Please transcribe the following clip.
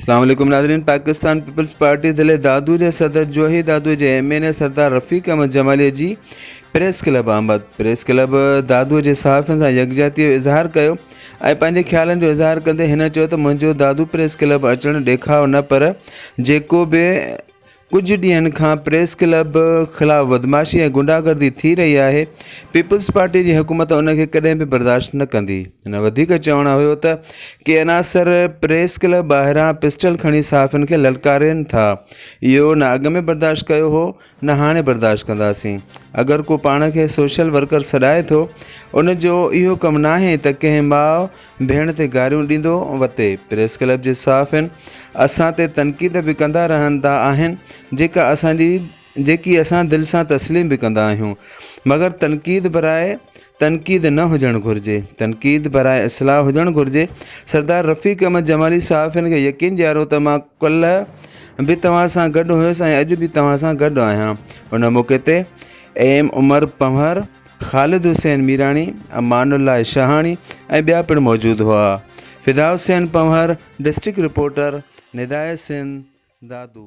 السلام علیکم ناظرین پاڪستان پیپلز پارٽي ضلع دادو جي صدر جوهي دادو جي M N A Sardar Rafiq Ahmed Jamali جي پريس ڪلب آمد پريس ڪلب دادو جي صحافين سان يڪجهتي جو اظهار ڪيو ۽ پنهنجي خيالن جو اظهار ڪندي هن چيو ته منهنجو دادو پريس ڪلب اچڻ ڏيکاء نه پر جيڪو به ڪجهه ڏينهن کان پريس ڪلب خلاف بدمعاشي ۽ غنڊا گردي ٿي رهي آهي پيپلز پارٽي جي حڪومت ان کي ڪڏهن به برداشت نه ڪندي هن وڌيڪ چوڻ هيو ته ڪي عناصر پريس ڪلب ٻاهران پسٽل کڻي صحافين کي للڪارين ٿا اهو نه اڳ ۾ برداشت ڪيو هو نه هاڻي برداشت ڪنداسين. اگر ڪو پاڻ کي سوشل ورڪر سڏائي ٿو ان جو اهو ڪم ناهي ته ڪنهن ماء ڀيڻ تي گاريون ڏيندو وتي. پريس ڪلب جي صحافين اسان تي تنقيد به ڪندا رهندا آهن جيڪا اسان جي جيڪي اسان دل سان تسليم به ڪندا آهيون مگر تنقيد براء تنقيد نه هجڻ گهرجي، تنقيد براء اصلاح هجڻ گهرجي، سردار رفيق احمد جمالي صحافين کي يقين ڏيارو ته مان ڪلهه به توهان سان گڏ هيس ۽ اڄ به توهان سان گڏ آهيان ان موقعي تي اي ايم عمر پنهور، خالد حسين ميراڻي، امان الله شاهاڻي ۽ ٻيا پڻ موجود هئا فدا حسين پنهور، ڊسٽرڪٽ رپورٽر، نداء سنڌ، دادو.